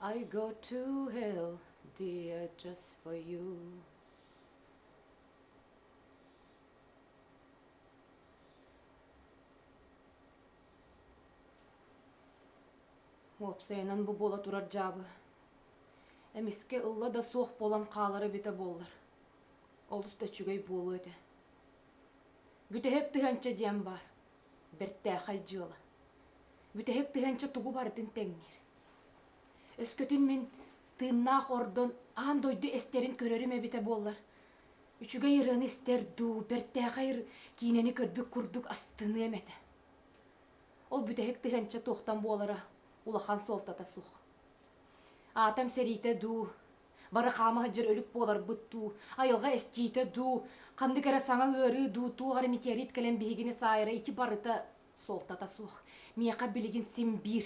I go to hell, dear, just for you. Уопсайынан бу буола турар дьаабы. Эмискэ ылла да суох буолан хаалара битэ буоллар. Олус да үчүгэй буолуо этэ. Бүтэһик тыһанча диэн баар. бэртээхэй дьыала. Бүтэһик тыһыынча тугу барытын тэҥниир. Өскөтүн мин тыыннаах ордон аан дойду эстэрин көрөрүм эбитэ буоллар, үчүгэй ырыаны истэр дуу, бэртээхэй ыр киинэни көрбүт курдук астыныам этэ. Ол бүтэһик тыһыынча туохтан буолара улахан суолтата суох. Аатам сэриитэ дуу, Бары хаама сылдьар өлүк буоларбыт дуу, айылҕа эстиитэ дуу, ханнык эрэ саҥа ыарыы дуу, туох эрэ метеорит кэлэн биһигини саайара ити барыта суолтата суох. Миэхэ билигин син биир.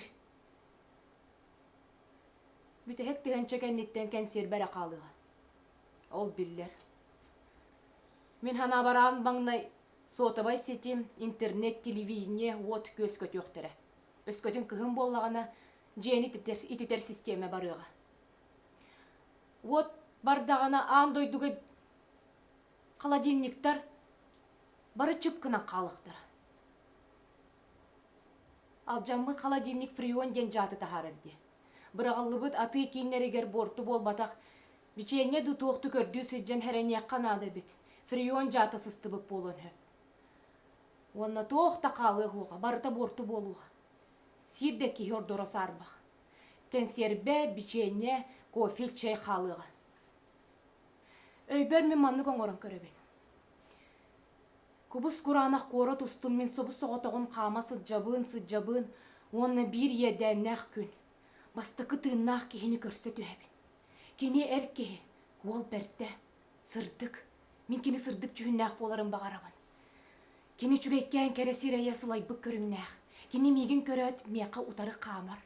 Бүтэһик тыһыынча кэнниттэн кэнсиэрбэ эрэ хаалыаҕа. Ол биллэр. Мин санаабараан маҥнай суотабай сити, интернет, телевидение, вот күөскөтүөхтэрэ. Өскөтүн кыһын буоллаҕына, дьиэни ититэр, ититэр систиэмэ барыаҕа. Уот бардаҕына аан дойдуга холодильниктар бары чып гынан хаалыахтара. Алдьаммыт холодильник фрион диэн дьааты таһаарар дии. Быраҕыллыбыт атыы кииннэригэр буорту буолбатах бичиэнньэ да туохту көрдүү сылдьан эрэниэххэ наада эбит. Фрион дьаата сыстыбыт буолуон сөп. Уонна туох да хаалыа суоҕа, барыта буорту буолуоҕа. Сиир да киһи ордоро саарбах. Кэнсиэрбэ, бичиэнньэ, кофе, чай хаалыаҕа. Өйбөр мин маннык оҥорон көрөбүн. Кубус кураанах куорат устун мин субус соҕотоҕун хаама сылдьабын, сылдьабын уонна биир иэдээннээх күн бастакы тыыннаах киһини көрсө түһэбин. Кини эр киһи, уол бэрдэ, Сырдык. Мин кини сырдык дьүһүннээх буоларын баҕарабын. Кини үчүгэйкээн кэрэ сирэйэ сылайбыт көрүҥнээх. Кини миигин көрөөт миэхэ утары хаамар.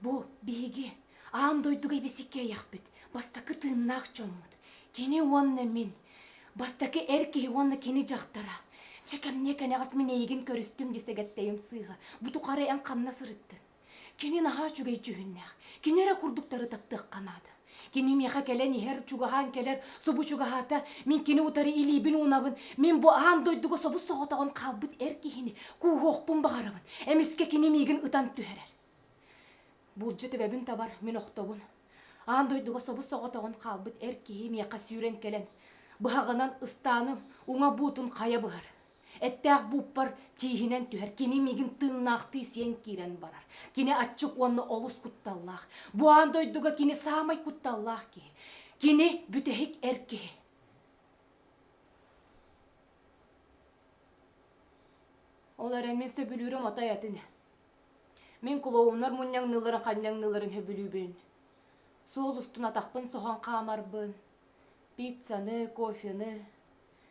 Бу биһиги аан дойдуга ибисикки эйэхпит, бастакы тыыннаах дьоммут. Кини уонна мин. Бастакы эр киһи уонна кини дьахтара. Чэ кэмниэ кэнэҕэс мин эйигин көрүстүм дии сэгэттэйим сыыһа. Бу тухары эн ханна сырыттыҥ? Кини наһаа үчүгэй дьүһүннээх. Кини эрэ курдуктары таптыахха наада. Кини миэхэ кэлэн иһэр, чугаһаан кэлэр, субу чугаһаата, мин кини утары илиибин-уунабын, мин бу аан дойдуга собус-соҕотоҕун хаалбыт эр киһини кууһуохпун баҕарабын. Эмискэ кини миигин ытан түһэрэр. Буулдьа төбөбүн табар, мин охтобун. Аан дойдуга собус-соҕотоҕун хаалбыт эр киһи миэхэ сүүрэн кэлэн, быһаҕынан ыстааным, уҥа буутун хайа быһар. Эттээх бууппар тииһинэн түһэр, кини миигин тыыннаахтыы сиэн киирэн барар. Кини аччык уонна олус кутталлаах. Бу аан дойдуга кини саамай кутталлаах киһи. Кини бүтэһик эр киһи. Ол эрэн мин сөбүлүүрүм отой атын. Мин клоунар мунньаҥныыларын ханньаҥныыларын сөбүлүүбүн. Суол устун атахпын соһон хаамарбын. Пиццаны, кофены,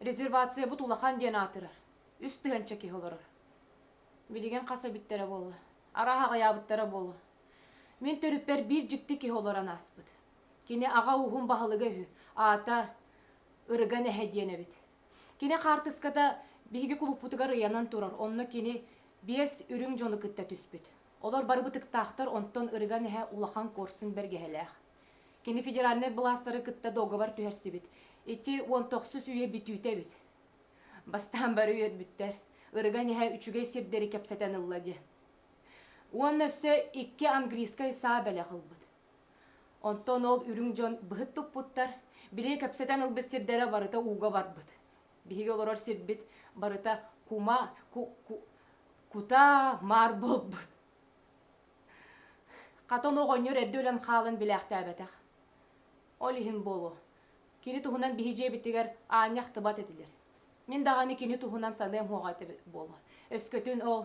Резервациябыт улахан диэн аатырар. Үс тыһыынча киһи олорор. Билигин хас эбиттэрэ буолла? Арааһа аҕыйаабыттара буолуо. Мин төрүппэр биир дьикти киһи олорон ааспыт. Кини аҕа ууһун баһылыга үһү. Аата Ырыга Нэһэ диэн эбит. Кини хаартыската биһиги кулуппутугар ыйанан турар, онно кини биэс үрүҥ дьону кытта түспүт. Олор бары бытыктаахтар, онтон Ырыга Нэһэ улахан куорсун бэргэһэлээх. Кини федеральнай былаастары кытта договор түһэрсибит. Ити уон тохсус үйэ бүтүүтэ эбит. Бастаан бары үөрбүттэр. Ырыган эһэ үчүгэй сирдэри кэпсэтэн ылла диэн. Уонна өссө икки английскай саа бэлэх ылбыт. Онтон ол үрүҥ дьон быһыт туппуттар, били кэпсэтэн ылбыт сирдэрэ барыта ууга барбыт. Биһиги олорор сирбит барыта кума, ку, ку, кутаа маар буолбут. Хатан оҕонньор эрдэ өлөн хаалан билээхтээбэтэх. Ол иһин буолуо, кини туһунан биһи дьиэбитигэр аанньа ахтыбат этилэр. Мин даҕаны кини туһунан саныам суоҕа этэ буолуо. Өскөтүн ол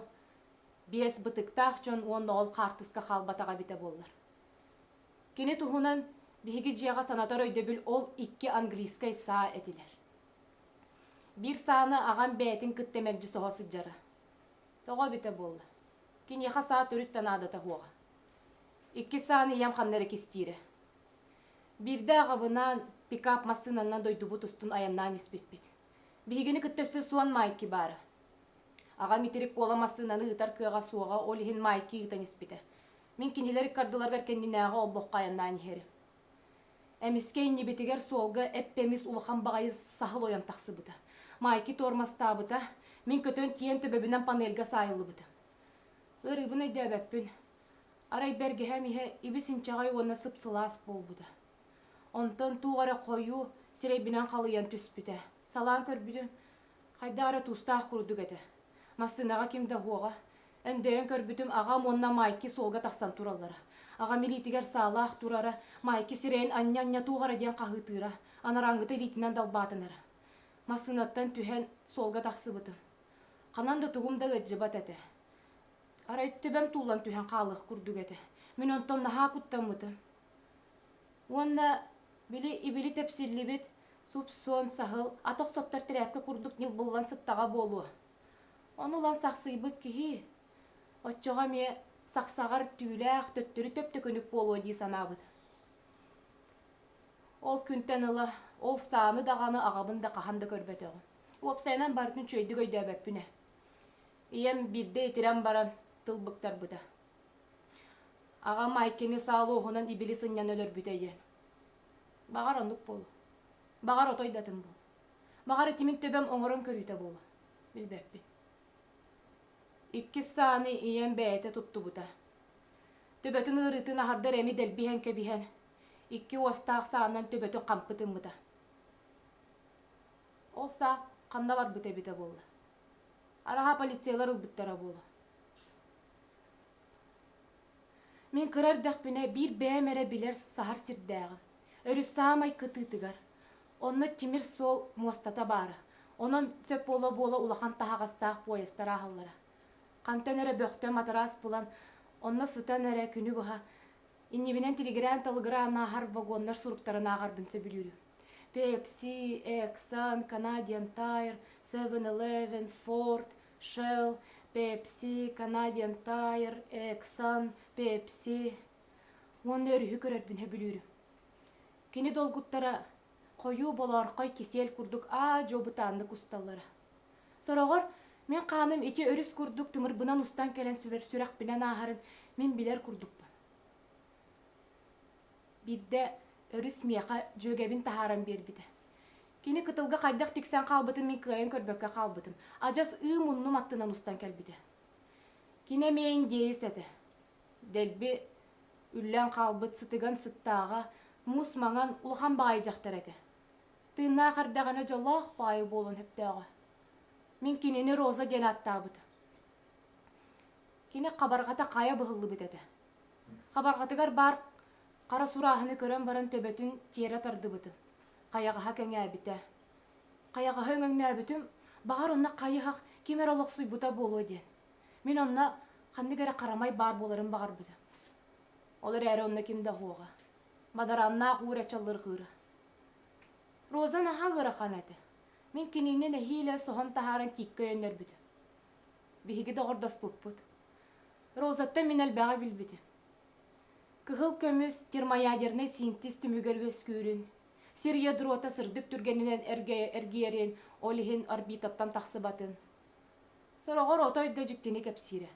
биэс бытыктаах дьон уонна ол хаартыска хаалбатаҕа эбитэ буоллар. Кини туһунан биһиги дьиэҕэ санатар өйдөбүл ол икки английскай саа этилэр. Биир сааны аҕам бэйэтин кытта мэлдьи соһо сылдьара. Тоҕо эбитэ буолла? Киниэхэ саа төрүт да наадата суоҕа. Иккис сааны ийэм ханна эрэ кистиирэ. Биирдэ аҕабынаан пикап массыынанан дойдубут устун айаннаан испиппит. Биһигини кытта өссө Суон Майки баара. Аҕам итирик буола массыынаны ыытар кыаҕа суоҕа, ол иһин Майки ыытан испитэ. Мин кинилэр ыккардыларыгар кэннинээҕи олбоххо айаннаан иһэрим. Эмискэ иннибитигэр суолга эп-эмис улахан баҕайы саһыл ойон тахсыбыта. Майки туормастаабыта, мин көтөн тиийэн төбөбүнэн панельга саайыллыбыта. Ырыыбын өйдөөбөппүн. Арай бэргэһэм иһэ ибис-инчэҕэй уонна сып-сылаас буолбута. Онтон туох эрэ хойуу сирэйбинэн халыйан түспүтэ. Салаан көрбүтүм, хайдах эрэ тустаах курдук этэ. Массыынаҕа ким да оһуоҕа, Өндөйөн көрбүтүм, аҕам уонна Майки суолга тахсан тураллара. Аҕам илиитигэр саалаах турара, Майки сирэйин анньа-анньа туох эрэ диэн хаһыытыыра, анарааҥҥыта илиитинэн далбаатынара. Массыынаттан түһэн, суолга тахсыбытым. Ханан да тугум да ыалдьыбат этэ. Арай төбөм туллан түһэн хаалыах курдук этэ. Мин онтон наһаа куттаммытым. Уонна били ибили тэпсиллибит суп-суон, саһыл, ат охсоттор тирээпкэ курдук ньылбыллан сыттаҕа буолуо. Ону ыла сахсыйбыт киһи оччоҕо эмиэ сахсаҕар түүлээх төттөрү төптөкүнүк буолуо дии санаабыт. Ол күнтэн ыла ол сааны даҕаны аҕабын да хаһан да көрбөтөҕүм. Уопсайынан барытын үчүгэйдик өйдөөбөппүнэ. Ийэм биирдэ итирэн баран тыл быктарбыта. Аҕам Айкени саал уоһунан ибили сынньан өлөрбүтэ диэн. Баҕар оннук буолуо. Баҕар отой датын буолуо. Баҕар итимин төбөм оҥорон көрүүтэ буолуо. Билбэппин. Иккис сааны ийэм бэйэтэ туттубута. Төбөтүн ыарыытын аһардар эми дэлбиһэн кэбиһэн, икки уостаах саанан төбөтүн хампы тыммыта. Ол саа ханна барбыта эбитэ буолла? Араһа полициялар ылбыттара буолуо. Мин кыра эрдэхпинэ биир бэйэм эрэ билэр саһар сирдээҕим. Өрүс саамай кытыытыгар. Онно тимир суол муостата баара. Онон сөп буола-буола улахан таһаҕастаах поездтар ааһаллара. Хантан эрэ бөхтө матараас булан, онно сытан эрэ күнү быһа иннибинэн тилигирээн-талыгыраан ааһар вагоннар суруктарын ааҕарбын сөбүлүүрүм. Пепси, Эксан, Canadian Tire, Seven-Eleven, Ford Shell, Pepsi, Canadian Tire, Exxon, Pepsi уонна өрүһү көрөрбүн сөбүлүүрүм. Кини долгуттара хойуу болоорхой кисель курдук аа-дьуо бытааннык усталлара. Сороҕор мин хааным ити өрүс курдук тымырбынан устан кэлэн сүрэхпинэн ааһарын мин билэр курдукпун. Биирдэ өрүс миэхэ дьүөгэбин таһааран биэрбитэ. Кини кытылга хайдах тиксэн хаалбытын мин кыайан көрбөккө хаалбытым. Адьас ыы муннум аттынан устан кэлбитэ. Кини эмиэ индеец этэ. Дэлби үллэн хаалбыт сытыган сыттааҕа, мус маҥан улахан баайы дьахтар этэ. Тыыннаах эрдэҕинэ дьоллоох баайы буолан сөптөөҕө. Мин кинини Роза диэн ааттаабыта. Кини хабарҕата хайа быһыллыбыт этэ. Хабарҕатыгар баар хара сурааһыны көрөн баран төбөтүн тиэрэ тардыбытым. Хайаҕаһа кэҥээбитэ. Хайаҕаһы өҥөҥнөөбүтүм, баҕар онно хайыһах ким эрэ олохсуйбута буолуо диэн. Мин онно ханнык эрэ харамай баар буоларын баҕарбытым. Ол эрээри онно ким да оһуоҕа. Мадарааннаах уур ачаллырҕыыра. Роза наһаа ыарахан этэ. Мин кинини нэһиилэ соһон таһааран тииккэ өйөннөрбүтүм. Биһиги доҕордоспуппут. Розаттан мин элбэҕи билбитим. Кыһыл көмүс термоядернай синтез түмүгэр үөскүүрүн, сир ядрота сырдык түргэнинэн эргийэрин, ол иһин орбитаттан тахсыбатын. Сороҕор отой да дьиктини кэпсиирэ.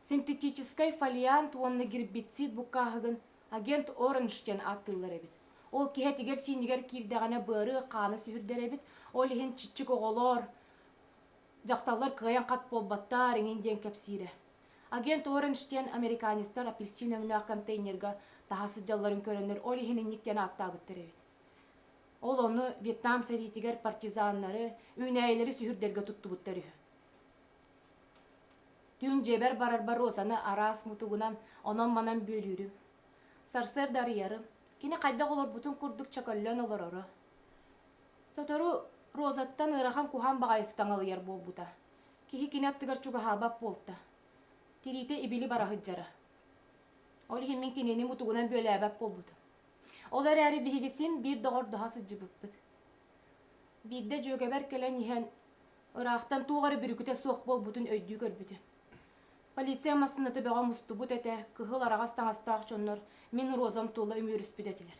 Синтетическай фолиант уонна гербицид буккааһыгын агент Оранж диэн ааттыыллар эбит. Ол киһитигэр-сиинигэр киирдэҕинэ быары хаана сүһүрдэр эбит, ол иһин чиччик оҕолоор Дьахталлар кыайан хат буолбаттар иҥин диэн кэпсиирэ. Агент Оранж диэн американецтар апельсин өҥнөөх контейнерга таһа сылдьалларын көрөннөр ол иһин инник диэн ааттаабыттар эбит. Ол ону Вьетнам сэриитигэр партизаннары, үүнээйилэри сүһүрдэргэ туттубуттар үһү. Түүн дьиэбэр барарбар Розаны араас мутугунан онон-манан бүөлүүрүм. Сарсыарда арыйарым. Кини хайдах олорбутун курдук чөкөллөн олороро. Сотору Розаттан ыарахан куһаан баҕайытык таҥалыйар буолбута. Киһи кини аттыгар чугаһаабат буолта. Тириитэ ибили бара сылдьара. Ол иһин мин кинини мутугунан бүөлээбэт буолбутум. Ол эрээри биһиги син биир доҕордоһо сылдьыбыппыт. Биирдэ дьүөгэбэр кэлэн иһэн, ыраахтан туох эрэ бүрүкүтэ суох буолбутун өйдүү көрбүтүм. Полиция массыыната бөҕө мустубут этэ, кыһыл араҕас таҥастаах дьоннор мин Розам тула үмүөрүспүт этилэр.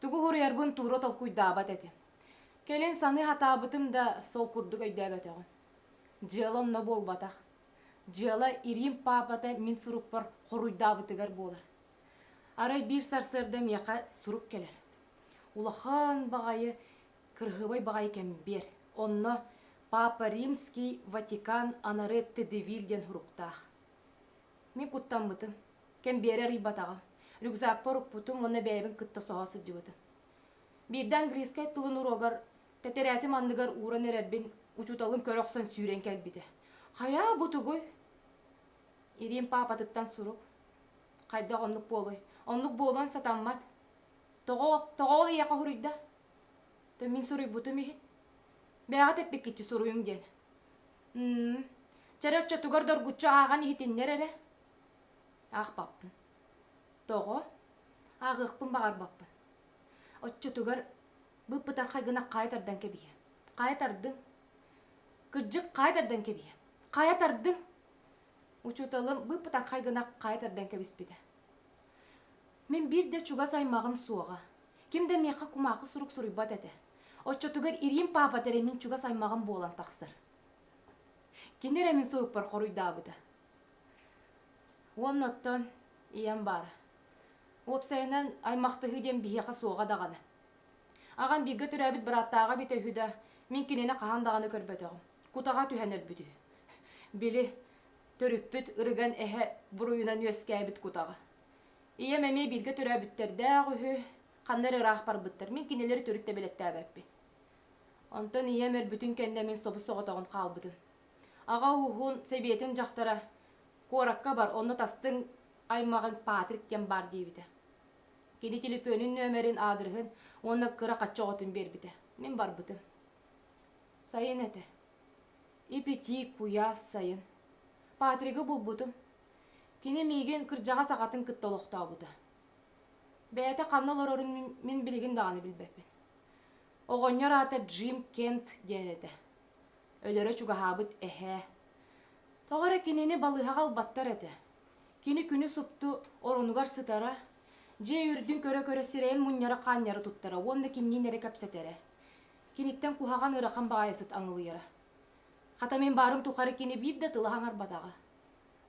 Тугу уһуруйарбын Туура толкуйдаабат этим. Кэлин саныы сатаабытым да, сол курдук өйдөөбөтөҕүм. Дьыала онно буолбатах. Дьыала Ириим паапата мин сурукпар хоруйдаабытыгар буолар. Арай биир сарсыарда миэхэ сурук кэлэр. Улахан баҕайы, кырыһыбай баҕайы кэмбиэр. Онно Папа Римский Ватикан анары Тедевиль диэн суруктаах. Мин куттаммытым. Кэмбиэрэ арыйбатаҕым. Рюкзакпар укпутум уонна бэйэбин кытта соһо сылдьыбытым. Биирдэ английскай тылын уруогар тэтэрээтим анныгар ууран эрэрбин учууталым көрө охсон сүүрэн кэлбитэ. «Хайаа, бу тугуй?» Ириим паапатыттан сурук. Хайдах оннук буолуой? Оннук буолуон сатаммат. Тоҕо, тоҕо ол ийэҕэ хоһуруйда? То мин суруйбутум иһин. Бэйэҕит эппиккитчи суруйуҥ диэн. Чэрэ оччотугар доргуччу ааҕан иһитиннэр эрэ. Аахпаппын. Тоҕо? Ааҕыахпын баҕарбаппын. Оччотугар быыппытархай гына хаайа тардан кэбиһиэ. Хаайа тардыҥ. Кырдьык, хаайа тардан кэбиһиэ. Хаайа тардыҥ. Учууталым быыппытархай гына хаайа тардан кэбиспитэ. Мин биир да чугас аймаҕым суоҕа. Ким да миэхэ кумаахы сурук суруйбат этэ. Оччотугар Ириим паапата эрэ мин чугас аймаҕым буолан тахсар. Кини эрэ мин сурукпар хоруйдаабыта. Уонна оттон ийэм баара. Уопсайынан аймахтаһыы диэн биһиэхэ суоҕа даҕаны. Аҕам бииргэ төрөөбүт бырааттааҕа эбитэ үһү да, мин кинини хаһан даҕаны көрбөтөҕүм. Кутаҕа түһэн өлбүт үһү. Били, Төрүппүт ырыган эһэ буруйунан үөскээбит кутаҕы. Ийэм эмиэ бииргэ төрөөбүттэрдээх үһү, ханна эрэ ыраах барбыттар. Мин кинилэри төрүт да бэлэттээбэппин. Онтон ийэм өлбүтүн кэннэ мин собус соҕотоҕун хаалбытым. Аҕа ууһун сэбиэтин дьахтара куоракка бар, онно тастыҥ аймаҕын Патрик диэн баар диэбитэ. Кини телефонун нөмерин, аадырыһын уонна кыра хачча оҕотун биэрбитэ. Мин барбытым. Сайын этэ. Ипи-тиик куйаас сайын Патригы булбутум. Кини миигин кырдьаҕас аҕатын кытта олохтообута. Бэйэтэ ханна олорорун мин билигин даҕаны билбэппин. Оҕонньор аата Джим Кент диэн этэ. Өлөрө чугаһаабыт эһээ. Тоҕо эрэ кинини балыыһаҕа ылбаттар этэ. Кини күнү супту оронугар сытара, дьиэ үрдүн көрө-көрө сирэйин мунньара-хаанньара туттара уонна кимниин эрэ кэпсэтэрэ. Киниттэн куһаҕан ыарахан баҕайытык аҥылыйара. Хата мин баарым тухары кини биир да тыла хаҥарбатаҕа.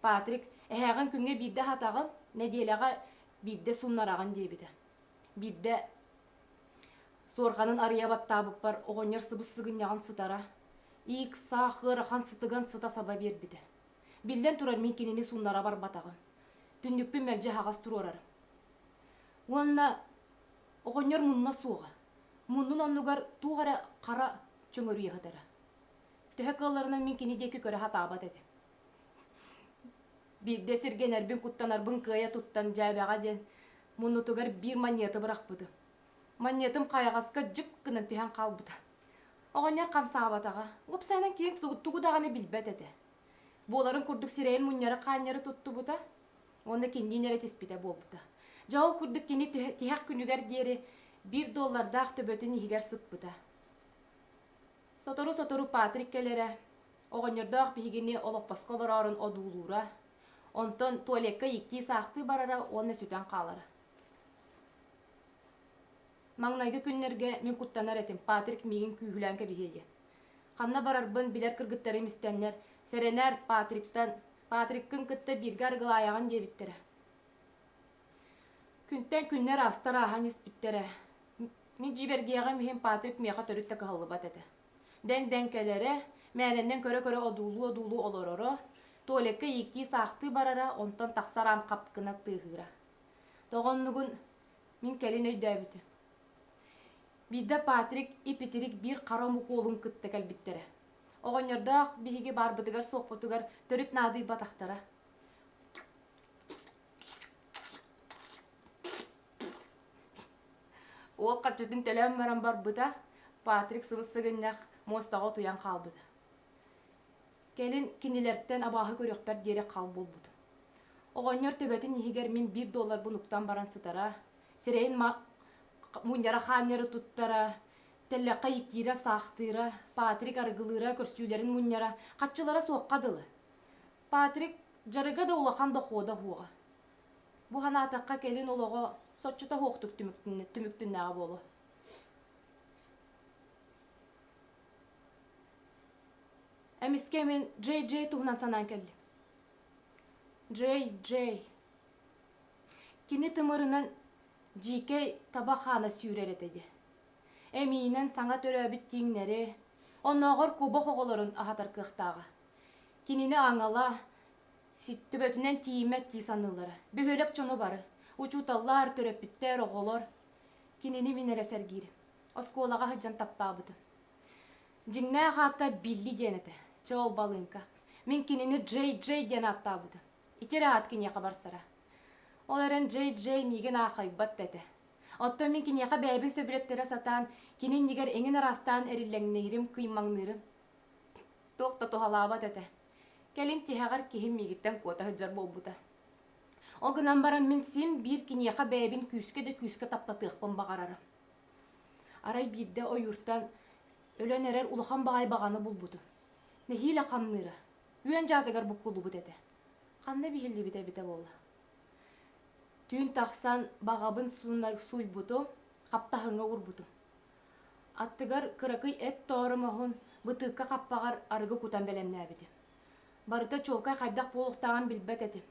Патрик, эһээҕин күҥҥэ биирдэ аһатаҕын, нэдиэлэҕэ биирдэ суннараҕын диэбитэ. Биирдэ суорҕанын арыйа баттаабыппар оҕонньор сыбыс-сыгынньаҕын сытара, иик-саах ыарахан сытыган сыта-саба биэрбитэ. Биллэн турар, мин кинини суннара барбатаҕым. Түннүкпүн мэлдьи аһаҕас туруорарым. Уонна Оҕонньор мунна суоҕа. Муннун оннугар туох эрэ хара чөҥөрүйэ сытара. Төһө кыалларынан мин кини диэки көрө сатаабат этим. Биирдэ сиргэнэрбин куттанарбын кыайа туттан дьээбэҕэ диэн муннутугар биир манньыаты бырахпытым. Манньыатым хайаҕаска дьып гынан түһэн хаалбыта. Оҕонньор хамсаабатаҕа. Уопсайынан киһим тугу даҕаны билбэт этэ. Буоларын курдук сирэйин мунньары-хаанньары туттубута. Уонна кинилиин эрэ тиспитэ буолбута. Дьэ, ол курдук кини тиһэх күнүгэр диэри биир доллардаах төбөтүн иһигэр сыппыта. Сотору-сотору Патрик кэлэрэ, оҕонньордоох биһигини олоппоско олороорун одуулуура, онтон туалекка ииктии-саахтыы барара уонна сүтэн хаалара. Маҥнайгы күннэргэ мин куттанар этим, Патрик миигин күүһүлээн кэбиһиэ диэн. Ханна барарбын билэр кыргыттарым истэннэр, сэрэнэр, Патриктан Патриккын кытта бииргэ арыгылаайаҕын диэбиттэрэ. Күнтэн күннэр аастар ааһан испиттэрэ. Мин дьибэргиэҕим иһин Патрик миэхэ төрүт да кыһаллыбат этэ. Дэҥ-дэҥ кэлэрэ, мээнэннэн көрө-көрө одуулуу-одуулуу олороро, Туолекка ииктии-саахтыы барара, онтон тахсар аам хапкына тыаһыыра. Тоҕо оннугун мин кэлин өйдөөбүтүм. Биирдэ Патрик ипитирик биир хара омук уолун кытта кэлбиттэрэ. Оҕонньордоох биһиги баарбытыгар-суохпутугар төрүт наадыйбатахтара. Уол хаччытын төлөөн баран барбыта, Патрик сыбыс-сыгынньах муостаҕа утуйан хаалбыта. Кэлин кинилэртэн абааһы көрүөхпэр диэри хал буолбутум. Оҕонньор төбөтүн иһигэр мин биир долларбын уктан баран сытара, сирэйин мунньара хаанньары туттара, тэллэххэ ииктиирэ, саахтыыра, Патрик арыгылыыра, көрсүүлэрин мунньара, хаччылара суохха дылы. Патрик дьарыга да улахан дохуота суоҕа. Бу санаатахха кэлин олоҕо соччото суохтук түмүктүннэҕэ буолуо. Эмискэ мин Джей Джей туһунан санаан кэллим. Джей Джей Кини тымырынан дьиикэй таба хаана сүүрэр этэ дии. Эмиинэн саҥа төрөөбүт тииҥнэри, оннооҕор кубок оҕолорун аһатар кыахтааҕа. Кинини аҥала, төбөтүнэн тиийиммэт дии саныыллара. Бөһүөлэк дьоно бары, учууталлар, төрөппүттэр, оҕолор кинини мин эрэ сэргиирим. Оскуолаҕа сылдьан таптаабытым. Дьиҥнээх аата Билли диэн этэ. Чоол балыыҥка. Мин кинини Джей Джей диэн ааттаабытым. Ити эрэ аат киниэхэ барсара. Ол эрэн дьэй-дьэй миигин аахайбат да этэ. Оттон мин киниэхэ бэйэбин сөбүлэттэрэ сатаан, кини иннигэр эҥин араастаан эриллэҥнэйирим, кыймаҥныырым. Туох да туһалаабат этэ. Кэлин тиһэҕэр киһим миигиттэн куота сылдьар буолбута. Ол гынан баран мин син биир киниэхэ бэйэбин күүскэ да күүскэ таптатыахпын баҕарарым. Арай биирдэ ойууртан өлөн эрэр улахан баҕайы баҕаны булбутум. Нэһиилэ хамныыра. Үөн дьаатыгар буккуллубут этэ. Ханна биһиллибитэ эбитэ буолла? Түүн тахсан баҕабын сууйбутум, хаптаһыҥҥа уурбутум. Аттыгар кыракый эт тоору моһун бытыыкка хаппаҕар арыгы кутан бэлэмнээбитим. Барыта чуолкай хайдах буолуохтааҕын билбэт этим.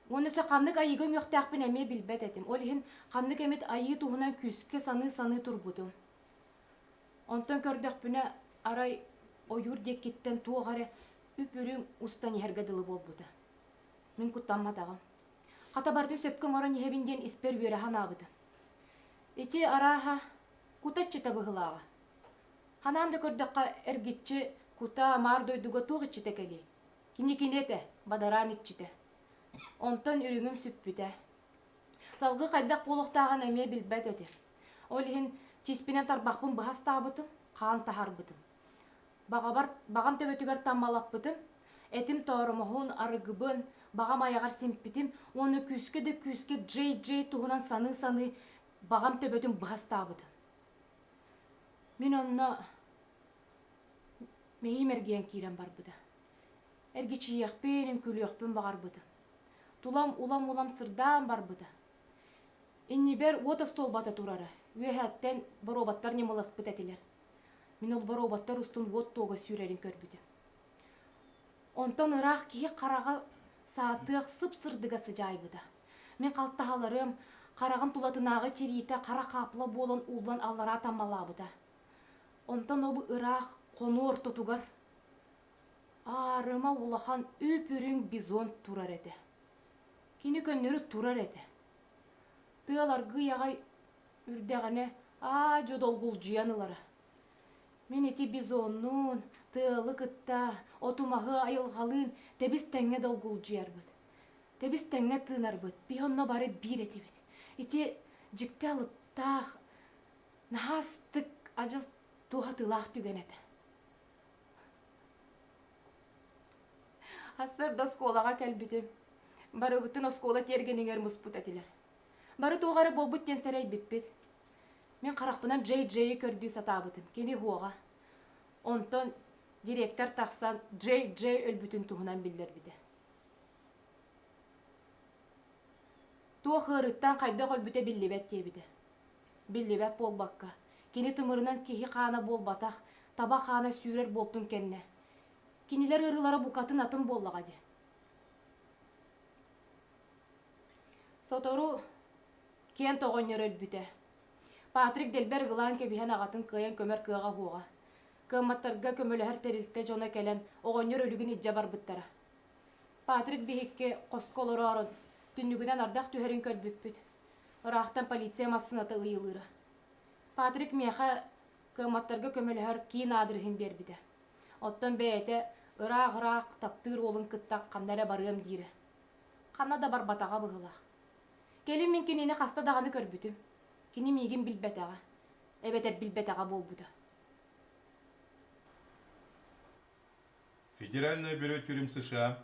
Уонна өссө ханнык айыыга үҥүөхтээхпин эмиэ билбэт этим. Ол иһин ханнык эмит айыы туһунан күүскэ саныы-саныы турбутум. Онтон көрдөхпүнэ, арай ойуур диэкиттэн туох эрэ үп-үрүҥ устан иһэргэ дылы буолбута. Мин куттамматаҕым. Хата барыта сөпкө оҥорон иһэбин диэн испэр үөрэ санаабытым. Ити арааһа кута иччитэ быһыылааҕа. Ханаан да көрдөххө эргиччи кутаа маар дойдуга туох иччитэ кэлиэй? Кини кини этэ, бадараан иччитэ. Онтон үрүҥүм сүппүтэ. Салгыы хайдах буолуохтааҕын эмиэ билбэт этим. Ол иһин тиспинэн тарбахпын быһа астаабытым, хаан таһарбытым. Баҕабар, баҕам төбөтүгэр таммалаппытым, этим тооромоһун, арыгыбын, баҕам айаҕар симпитим уонна күүскэ да күүскэ дьэй-дьэй туһунан саныы-саныы баҕам төбөтүн быһа астаабытым. Мин онно мэһиим эргийэн киирэн барбыта. Эргичийиэхпин, үҥкүүлүөхпүн баҕарбытым. Тулам улам-улам сырдаан барбыта. Иннибэр уот остуолбата турара. Үөһээттэн боруобаттар ньамыласпыт этилэр. Мин ол боруобаттар устун уот туога сүүрэрин көрбүтүм. Онтон ыраах киһи хараҕа саатыах сып-сырдыга сыдьаайбыта. Мин халтаһаларым, хараҕым тулатынааҕы тириитэ хара хаапла буолан ууллан аллараа таммалаабыта. Онтон ол ыраах хонуу ортотугар аарыма улахан үп-үрүҥ бизон турар этэ. Кини көннөрү турар этэ. Тыал аргыый аҕай үрдэҕинэ аа-дьо долгулдьуйан ылара. Мин ити бизоннуун, тыалы кытта, отумаһы айылҕалыын тэбис-тэҥҥэ долгулдьуйарбыт, тэбис-тэҥҥэ тыынарбыт, бih онно бары биир этибит. Ити дьикти алыптаах, наһаастык адьас туһатыылаах түгэн этэ. Ассырда оскуолаҕа кэлбитим. Барыбытын оскуола тиэргэнигэр муспут этилэр. Бары туох эрэ буолбут диэн сэрэйбиппит. Мин харахпынан Джей Джейи көрдүү сатаабытым. Кини уһуоҕа. Онтон директор тахсан Джей Джей өлбүтүн туһунан биллэрбитэ. Туох ыарыыттан хайдах өлбүтэ биллибэт диэбитэ. Биллибэт буолбакка, кини тымырынан киһи хаана буолбатах, таба хаана сүүрэр буолтун кэннэ, кинилэр ырыалара букатын атын буоллаҕа дии. Сотору Кент оҕонньор өлбүтэ. Патрик дэлбэр ылаан кэбиһэн аҕатын кыайан көмөр кыаҕа уһуоҕа. Кыамматтарга көмөлөһөр тэрилтэ дьоно кэлэн оҕонньор өлүгүн илдьэ барбыттара. Патрик биһикки хоско олороорун, түннүгүнэн ардах түһэрин көрбүппүт. Ыраахтан полиция массыыната ыйылыыра. Патрик миэхэ кыамматтарга көмөлөһөр киин аадырыһын биэрбитэ. Оттон бэйэтэ ыраах-ыраах таптыыр уолун кытта ханна эрэ барыам диирэ. Ханна да барбатаҕа быһыылаах. Кэлин мин кинини хаста даҕаны көрбүтүм. Кини миигин билбэтэҕэ, эбэтэр билбэтэҕэ буолбута. Федеральное бюро тюрем США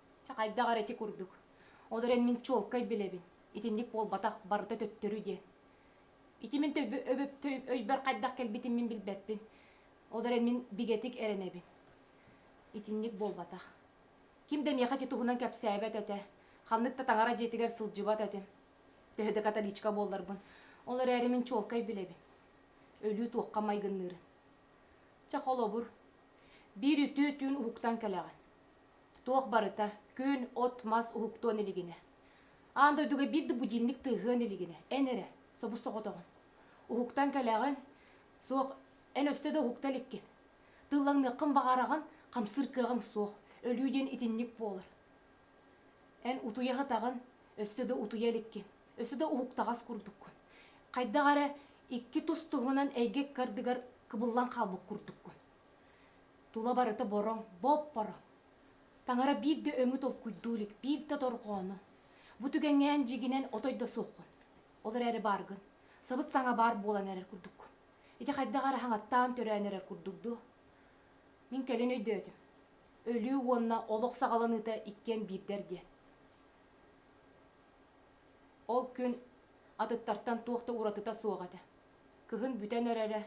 Чэ, хайдах эрэ ити курдук. Ол эрэн мин чуолкай билэбин. Итинник буолбатах, барыта төттөрү диэн. Ити мин өйбөр хайдах кэлбитин мин билбэппин. Ол эрэн мин бигэтик эрэнэбин. Итинник буолбатах. Ким да миэхэ ити туһунан кэпсээбэт этэ. Ханнык да таҥара дьиэтигэр сылдьыбат этим. Төһө да католичка буолларбын. Ол эрээри мин чуолкай билэбин. Өлүү туохха майгынныырын. Чэ, холобур. Биир үтүө түүн уһуктан кэлэҕин. Туох барыта, күн, от-мас уһуктуон илигинэ. Аан дойдуга биир да будильник тыаһыан илигинэ, эн эрэ, собус-соҕотоҕун. Уһуктан кэлэҕин, суох, эн өстө да уһукта иликкин. Тыыллаҥныаххын баҕараҕын, хамсыыр кыаҕыҥ суох, өлүү диэн итинник буолар. Эн утуйа сытаҕын, өссө да утуйа иликкин, өссө да уһуктаҕас курдуккун. Хайдах эрэ икки тус-туһунан эйгэ ыккардыгар кыбыллан хаалбыт курдуккун. Тула барыта бороҥ, боп-боро. Таҥара биир да өҥү толкуйдуу илик, биир да дорҕоону. Бу түгэҥҥээн дьигинэн отой да суоххун. Ол эрээри бааргын. Сабыс-саҥа баар буолан эрэр курдук. Ити хайдах эрэ хаҥаттаан төрөөн эрэр курдук дуо? Мин кэлин өйдөөтүм. Өлүү уонна олох саҕаланыыта иккиэн биирдэр диэн. Ол күн атыттартан туох да уратыта суох этэ. Кыһын бүтэн эрэрэ.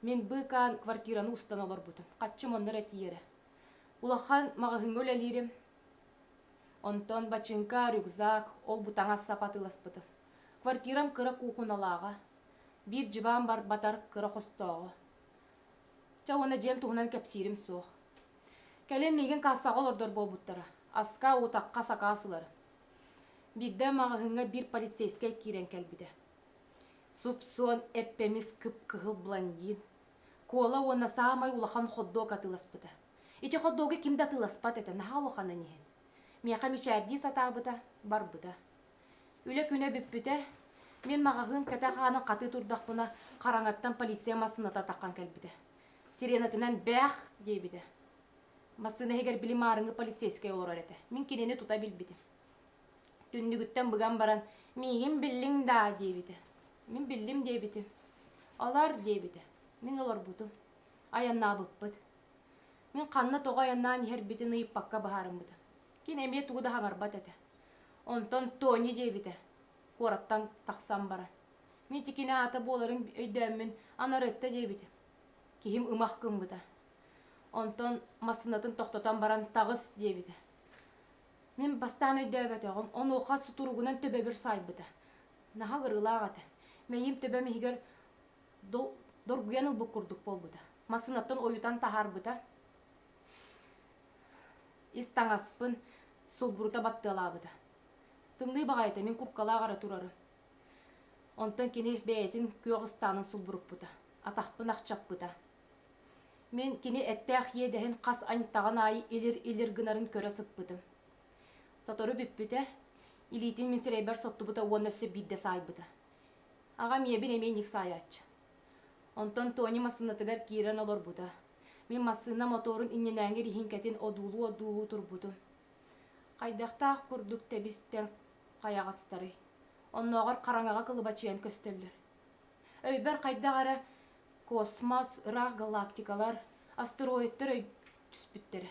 Мин быыкаан квартираны устан олорбутум. Хаччым оннор этийэрэ. Улахан маҕаһыыҥҥа үлэлиирим. Онтон бачыыҥка, рюкзак, ол-бу таҥас сапа атыыласпытым. Квартирам кыра куухуналааҕа. Биир дьыбаан барбатар кыра хостооҕо. Чэ уонна дьиэм туһунан кэпсиирим суох. Кэлин миигин кассаҕа олордор буолбуттара. Аска, утахха сакаас ыларын. Биирдэ маҕаһыыҥҥа биир полицейскай киирэн кэлбитэ. Суп-суон, эппэмис, кып-кыһыл блондин. Куола уонна саамай улахан хот-дог атыыласпыта. Ити хот-догу ким да атыыласпат этэ, наһаа улаханын иһин. Миэхэ мичээрдии сатаабыта, барбыта. Үлэ күнэ бүппүтэ. Мин маҕаһыын кэтэх аанын хатыы турдахпына, хараҥаттан полиция массыыната атаххан кэлбитэ. Сиренатынан «Бээх!» диэбитэ. Массыына иһигэр били маарыҥы полицейскай олорор этэ. Мин кинини тута билбитим. Түннүгүттэн быган баран, «Миигин биллиҥ даа?» диэбитэ. «Мин биллим» диэбитим. «Олор» диэбитэ. Мин олорбутум. Айаннаабыппыт. Мин ханна тоҕо айаннаан иһэрбитин ыйыппакка быһаарыммытым. Кини эмиэ тугу да хаҥарбат этэ. Онтон Тони диэбитэ куораттан тахсан баран. Мин ити кини аата буоларын өйдөөммүн Анарытта диэбитим. Киһим ымах гыммыта. Онтон массыынатын тохтотон баран «Таҕыс» диэбитэ. Мин бастаан өйдөөбөтөҕүм, онуоха сутуругунан төбөбүр саайбыта. Наһаа кырыылаах этэ. Мэйиим төбөм иһигэр доргуйан ылбыт курдук буолбута. Массыынаттан ойутан таһаарбыта. Ис таҥаспын, сулбурута баттыалаабыта. Тымныы баҕайы этэ, мин курткалаах эрэ турарым. Онтон кини бэйэтин күөх ыстаанын сулбуруппута. Атахпын ахчаппыта. Мин кини эттээх иэдэһин хас аньтаҕын аайы илир-илир гынарын көрө сыппытым. Сотору бүппүтэ, илиитин мин сирэйбэр соттубута уонна өссө биирдэ саайбыта. Аҕам ийэбин эмиэ инник саайааччы. Онтон Тони массыынатыгар киирэн олорбута. Мин массыына мотуорун иннинээҥи риһиҥкэтин одуулуу-одуулуу турбутум. Хайдахтаах курдук тэбистэн хайаҕастарый? Оннооҕор хараҥаҕа кылыбачыйан көстөллөр. Өйбөр хайдах эрэ космос, ыраах галактикалар, астероидтар өй түспүттэрэ.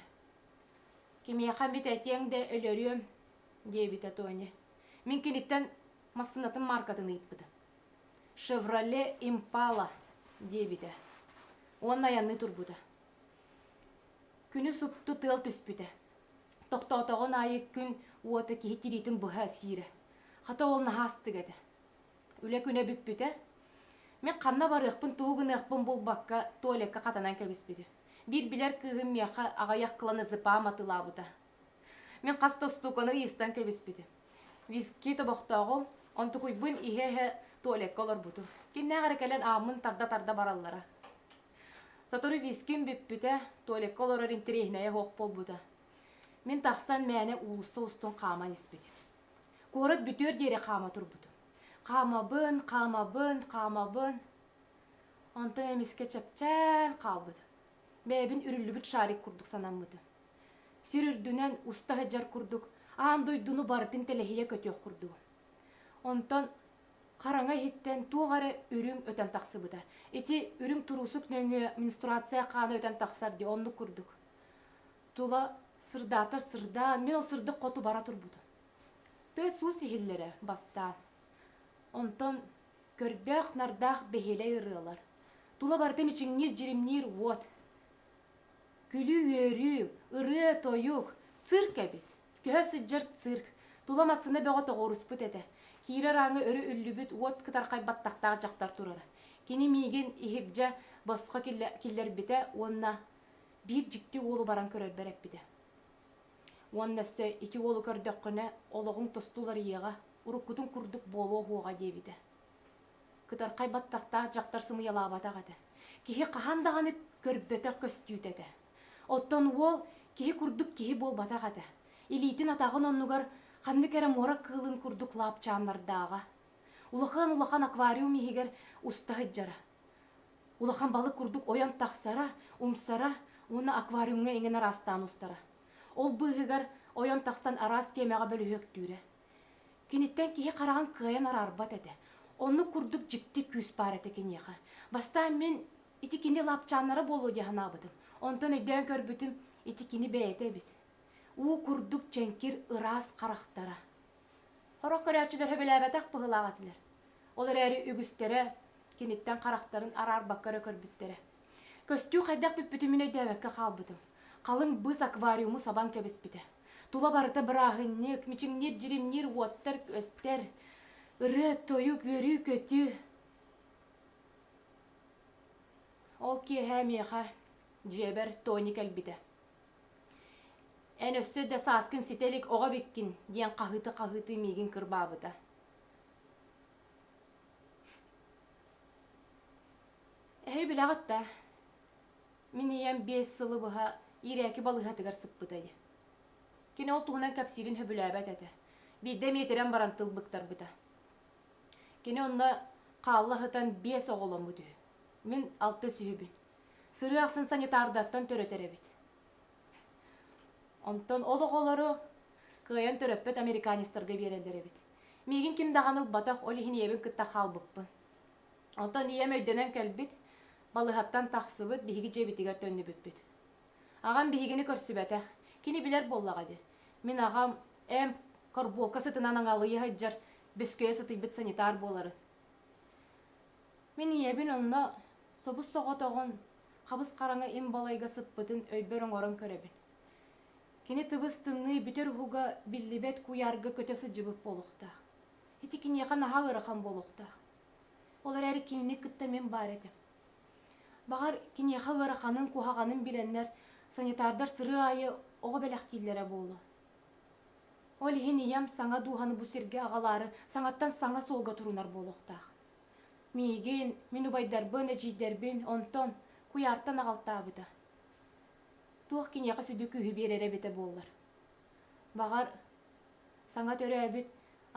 Кимиэхэ эмит этиэҥ да өлөрүөм, диэбитэ Тоня. Мин киниттэн массыынатын мааркатын ыйыппытым. Chevrolet Impala диэбитэ. Уонна айанныы турбута. Күнү супту тыал түспүтэ. Тохтоотоҕун аайы күн уота киһи тириитин быһа сиирэ. Хата ол наһаастык этэ. Үлэ күнэ бүппүтэ. Мен ханна барыахпын, тугу гыныахпын булбакка, туалекка хатанан кэбиспитим. Биир билэр кыыһым миэхэ аҕыйах кыланы зыпаам атылаабыта. Мен хас да устууканы ыйыстан кэбиспитим. Виски тобохтооҕу, онтукуйбун иһэ-иһэ туалекка олорбутум. Кимнээх эрэ кэлэн ааммын тарда-тарда бараллара. Сотору виским бүппүтэ, туалекка олорор интэриэһинэйэ суох буолбута. Мен тахсан мээнэ уулусса устун хааман испитим. Куорат бүтүөр диэри хаама турбутум. Хаамабын, хаамабын, хаамабын. Онтон эмискэ чэпчээн хаалбытым. Бэйэбин үрүллүбүт шарик курдук санаммытым. Сир үрдүнэн уста сыдьар курдук аан дойдуну барытын тэлэһийэ көтүөх курдугум. Онтон хараҥа иһиттэн туох эрэ үрүҥ өтөн тахсыбыта. Ити үрүҥ туруусук нөҥүө менструация хаана өтөн тахсар дии, оннук курдук. Тула сырдаатар сырдаан, мин ол сырдык хоту бара турбута. Тыа суус иһиллэрэ бастаан. Онтон көрдөөх-нардаах бэһиэлэй ырыалар. Тула барыта мичиҥниир, дьиримниир уот. Күлүү-үөрүү, ырыа-тойук, цирк эбит. Көһө сылдьар цирк. Тула массыына бөҕө тоҕуоруспут этэ. Киирэр ааҥы өрө үллүбүт уот кытархайбат тахтаах дьахтар турара. Кини миигин иһирдьэ босхо киллэрбитэ уонна Биир дьикти уолу баран көрөрбөр эппитэ. Уонна өссө ити уолу көрдөххүнэ олоҕуҥ тосту уларыйыаҕа, уруккутуҥ курдук буолуо уһуоҕа диэбитэ. Кытархай баттахтаах дьахтар сымыйалаабатах этэ. Киһи хаһан даҕаны көрбөтөх көстүүтэ этэ. Оттон уол киһи курдук киһи буолбатах этэ. Илиитин-атаҕын оннугар ханнык эрэ муора кыылын курдук лаапчааннардааҕа. Улахан-улахан аквариум иһигэр уста сылдьара. улахан балык курдук ойон тахсара, умсара уонна аквариумҥа иҥэн араастаан устара. Ол быыһыгар ойон тахсан араас тиэмэҕэ бөлүһүөктүүрэ. Киниттэн киһи хараҕын кыайан араарбат этэ. Оннук курдук дьикти күүс баар этэ киниэхэ. Бастаан мин ити кини лапчааннара буолуо дии санаабытым. Онтон өйдөөн көрбүтүм, ити кини бэйэтэ эбит. Уу курдук чэҥкир ыраас харахтара. Сорох көрөөччүлэр сөбүлээбэтэх быһыылаах этилэр. Ол эрээри үгүстэрэ киниттэн харахтарын араарбакка эрэ көрбүттэрэ. Көстүү хайдах бүппүтүмүн өйдөөбөккө хаалбытым. Халыҥ быыс аквариуму сабан кэбиспитэ. Тула барыта бырааһынньык, мичиҥниир, дьиримниир уоттар көстөр, ырыа-тойук, үөрүү-көтүү. Ол киэһэ миэхэ дьиэбэр Тони кэлбитэ. Эн өссө да сааскын ситэ илик оҕо эбиккин диэн хаһыыта-хаһыытыы миигин кырбаабыта. Эһи билэҕит да, мин ийэм биэс сылы быһа иирээки балыыһатыгар сыппытай. Кини ол туһунан кэпсиирин сөбүлээбэт этэ. Биирдэ миэтирэн баран тыл быктарбыта. Кини онно хаалла сытан биэс оҕоломмут үһү. Мин алтыс үһүбүн. Сырыы ахсын санитардартан төрөтөр эбит. Онтон ол оҕолору кыайан төрөппөт американецтарга биэрэллэр эбит. Миигин ким даҕаны ылбатах, ол иһин ийэбин кытта хаалбыппын. Оттон ийэм өйдөнөн кэлбит, балыһаттан тахсыбыт, биһиги дьиэбитигэр төннүбүппүт. Аҕам биһигини көрсүбэтэх. Кини билэр буоллаҕа дии. Мин аҕам эм корбуолка сытынан аҥалыйа сылдьар, бөскөйө сытыйбыт санитар буоларын. Мин ийэбин онно собус соҕотоҕун, хабыс-хараҥа им балайга сыппытын өйбөр оҥорон көрөбүн. Кини тыбыс-тымныы бүтэр уһуга биллибэт куйаарга көтө сылдьыбыт буолуохтаах. Ити киниэхэ наһаа ыарахан буолуохтаах. Ол эрээри кинини кытта мин баар этим. Баҕар, киниэхэ ыараханын, куһаҕанын билэннэр, санитардар сырыы аайы оҕо бэлэхтииллэрэ буолуо. Ол иһин ийэм саҥа дууһаны бу сиргэ аҕалаары саҥаттан саҥа суолга турунар буолуохтаах. Миигин, мин убайдарбын, эдьиийдэрбин онтон, куйаартан аҕалтаабыта. Туох киниэхэ сүдү күүһү биэрэрэ эбитэ буоллар. Баҕар, саҥа төрөөбүт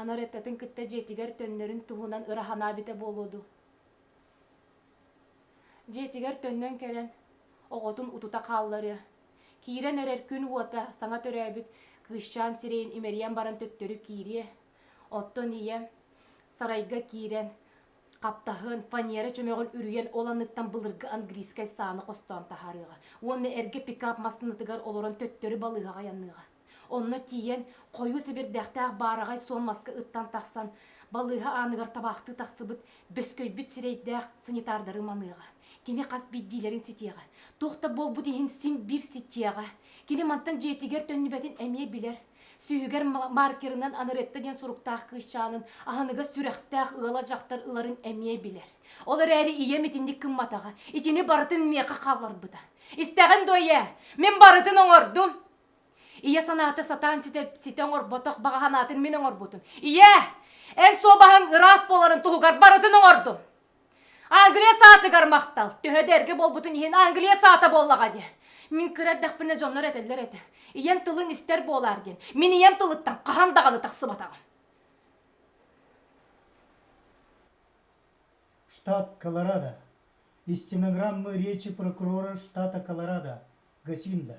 Анареттатын кытта дьиэтигэр төннөрүн туһунан ыраһанаа эбитэ буолуо дуу. Дьиэтигэр төннөн кэлэн, оҕотун утута хаалларыа, киирэн эрэр күн уота саҥа төрөөбүт кыысчаан сирэйин имэрийэн баран төттөрү киириэ, оттон ийэ сарайга киирэн Хаптаһын, фанера чөмөҕүн үрүйэн ол анныттан былыргы английскай сааны хостоон таһаарыаҕа уонна эргэ пикап массыынатыгар олорон төттөрү балыыһаҕа айанныаҕа. Онно тиийэн, хойуу сэбирдэхтээх баараҕай суон маска ыттан тахсан, балыыһа ааныгар табаахтыы тахсыбыт бөскөйбүт сирэйдээх санитардары маныаҕа. Кини хас биирдиилэрин ситиэҕэ. Туох да буолбут иһин син биир ситиэҕэ. Кини мантан дьиэтигэр төннүбэтин эмиэ билэр. Сүүһүгэр маркерынан Анеретта диэн суруктаах кыысчаанын аһыныгас сүрэхтээх ыала дьахтар ыларын эмиэ билэр. Ол эрээри ийэм итинник гымматаҕа, итини барытын миэхэ хаалларбыта. Истэҕин дуо ийээ, мин барытын оҥордум. Ийэ санаата сатаан ситэ, ситэ оҥорботох баҕа санаатын мин оҥорбутум. Ийээ, эн суобаһыҥ ыраас буоларын туһугар барытын оҥордум. Англия саатыгар махтал. Төһө да эргэ буолбутун иһин Англия саата буоллаҕа диэ. Мин кыра эрдэхпинэ дьоннор этэллэр этэ. Ийэм тылын истэр буолаар диэн. Мин ийэм тылыттан хаһан даҕаны тахсыбатаҕым. Штат Колорадо. Из стенограммы речи прокурора штата Колорадо, Гасинда.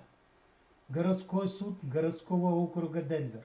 Городской суд городского округа Денвер.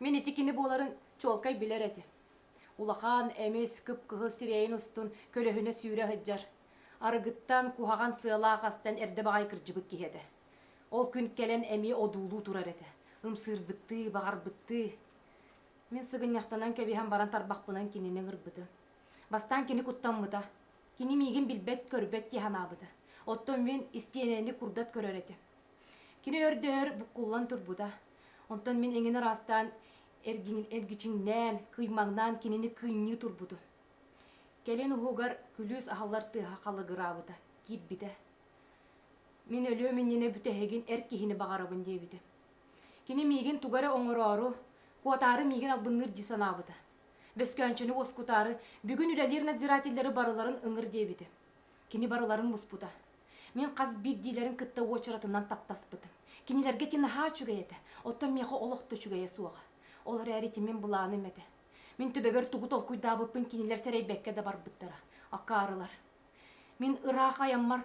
Мин ити кини буоларын чуолкай билэр этим. Улахан, эмис, кып-кыһыл сирэйин устун көлөһүнэ сүүрэ сылдьар, арыгыттан, куһаҕан сыалаах астан эрдэ баҕайы кырдьыбыт киһи этэ. Ол күн кэлэн эмиэ одуулуу турар этэ, ымсыырбыттыы, баҕарбыттыы. Мин сыгынньахтанан кэбиһэн баран тарбахпынан кинини ыҥырбытым. Бастаан кини куттаммыта. Кини миигин билбэт-көрбөт дии санаабыта. Оттон мин истиэнэни курдат көрөр этим. Кини өрдөһөр буккуллан турбута. Онтон мин эҥин ыраастаан, эргичиҥнээн, кыймаҥнаан кинини кыынньыы турбутум. Кэлин уһугар күлүүс аһыллар тыаһа халыгыраабыта, киирбитэ. Мин өлүөм иннинэ бүтэһигин эр киһини баҕарабын диэбитим. Кини миигин туга эрэ оҥороору, куотаары миигин албынныыр дии санаабыта. Бөскөөнчөнү уоскутаары бүгүн үлэлиир надзирателлэри барыларын ыҥыр диэбитим. Кини барыларын буспута. Мин хас биирдиилэрин кытта уочаратынан таптаспытым. Кинилэргэ ити наһаа үчүгэй этэ, оттон миэхэ олох да үчүгэйэ суоҕа. Ол эрээри ити мин былааным этэ. Мин төбөбөр тугу толкуйдаабыппын кинилэр сэрэйбэккэ да барбыттара. Акаарылар. Мин ыраах айаммар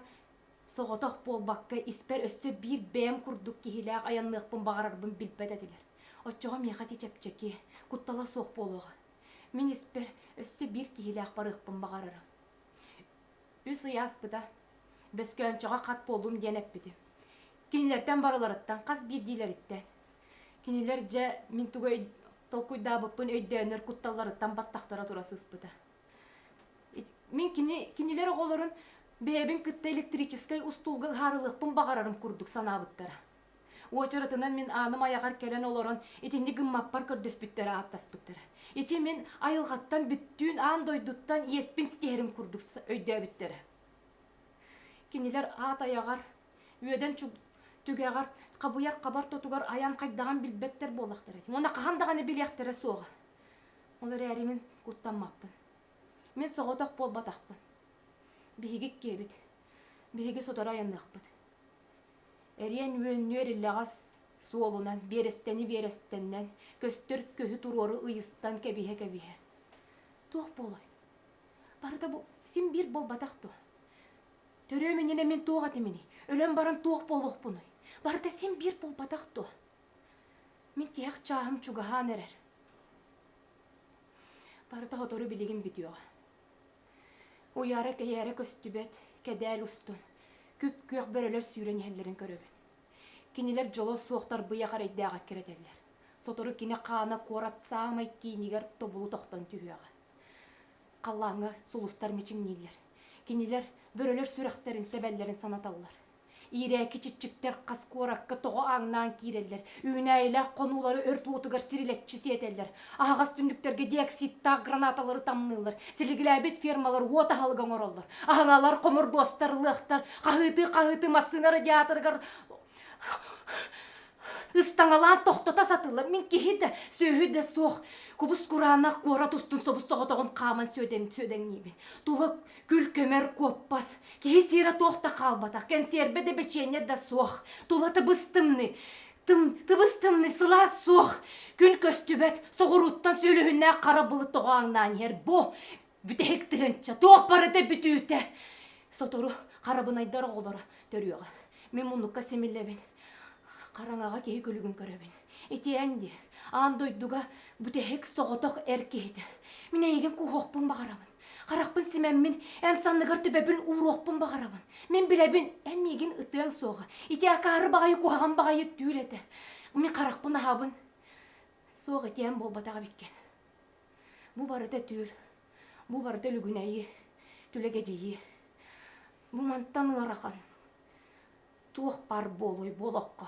соҕотох буолбакка, испэр өссө биир бэйэм курдук киһилээх айанныахпын баҕарарбын билбэт этилэр. Оччоҕо миэхэ ити чэпчэки, куттала суох буолуоҕа. Мин испэр өссө биир киһилээх барыахпын баҕарарым. Үс ый ааспыта. Бөскөөнчөҕө хат буоллум диэн эппитим. Кинилэртэн барыларыттан хас биирдиилэриттэн. Кинилэр дьэ мин тугай толкуйдаабыппын өйдөөнөр кутталларыттан баттахтара тура сыспыта. Мин кини кинилэр оҕолорун бэйэбин кытта электрическэй устуулга ыһаарылыахпын баҕарарым курдук санаабыттара. Уочаратынан мин ааным айаҕар кэлэн олорон итинник гыммаппар көрдөспүттэр ааттаспыттара. Ити мин айылҕаттан бүттүүн аан дойдуттан иэспин ситиһэрим курдук өйдөөбүттэрэ. Кинилэр аат айаҕар, үөдэн түгэҕэр, хабыйар хабар тотугар айан хайдаҕын билбэттэр буоллахтара ити. Уонна хаһан даҕаны билиэхтэрэ суоҕа. Ол эрээри мин куттаммаппын. Мин соҕотох буолбатахпын. Биһиги киэбит. Биһиги сотору айанныахпыт. Эриэн үөннүөр илэҕэс суолунан, биэрэстэни биэрэстэннэн, көстөр көһү туруору ыйыстан кэбиһэ-кэбиһэ. Туох буолуой? Барыта бу син биир буолбатах дуо? Төрүөм иннинэ мин туох этиминий? Өлөн баран туох буолуохпунуй? Барыта син биир буолбатах дуо? Мин тиһэх чааһым чугаһаан эрэр. Барыта сотору билигин бүтүөҕэ. Уйаара-кэйээрэ көстүбэт, кэдээл устун, күп-күөх бөрөлөр сүүрэн иһэллэрин көрөбүн. Кинилэр дьоло суох тарбыйа харайдаах эккирэ этэллэр. Сотору кини хаана куорат саамай киинигэр тобулу тохтон түһүөҕэ. Халлааҥҥа сулустар мичиҥнииллэр. Кинилэр бөрөлөр сүрэхтэрин тэбэллэрин санаталлар. Иирээки чиччиктэр хас куоракка тоҕо ааҥнаан киирэллэр, үүнээйилээх хонуулары өрт уотугар сирилэччи сиэтэллэр, аһаҕас түннүктэргэ диоксидтаах гранаталары тамныыллар, силиглээбит фермалар уот аһылыга оҥороллор, аһыҥалар, хомурдуостар, ылыахтар, хаһыытыы-хаһыытыы массыына радиаторыгар ыстаҥалаан тохтото сатыыллар. Мин киһи да, сүөһү да суох кубус кураанах куорат устун собус соҕотоҕун хааман сүөдэҥ сүөдэҥниибин. Тула Күл-көмөр куоппас. Киһи сиэрэ туох да хаалбатах, кэнсиэрбэ да бэчиэнньэ да суох. Тула тыбыс-тымныы. Тым, тыбыс-тымныы, сылаас суох. Күн көстүбэт, соҕурууттан сүөлүһүннээх хара былыт тоҕо аҥнаан иһэр. Бо, бүтэһик тыһыынча, туох барыта бүтүүтэ. Сотору харабынайдар оҕолоро төрүөҕэ. Мин муннукка симиллэбин. Хараҥаҕа киһи күлүгүн көрөбүн. Итиэн дии, аан дойдуга бүтэһик соҕотох эр киһитэ. Мин эйигин кууһуохпун баҕарабын. Харахпын симэммин, эн санныгар төбөбүн ууруохпун баҕарабын. Мин билэбин, эн миигин ытыаҥ суоҕа. Ити акаары баҕайы куһаҕан баҕайы түүл этэ. Мин харахпын аһабын. Суох этиэм буолбатах эбиккин. Бу барыта түүл. Бу барыта лүгүнэйи, түлэгэдьийи. Бу мантан ыарахан. Туох баар буолуй буолахха.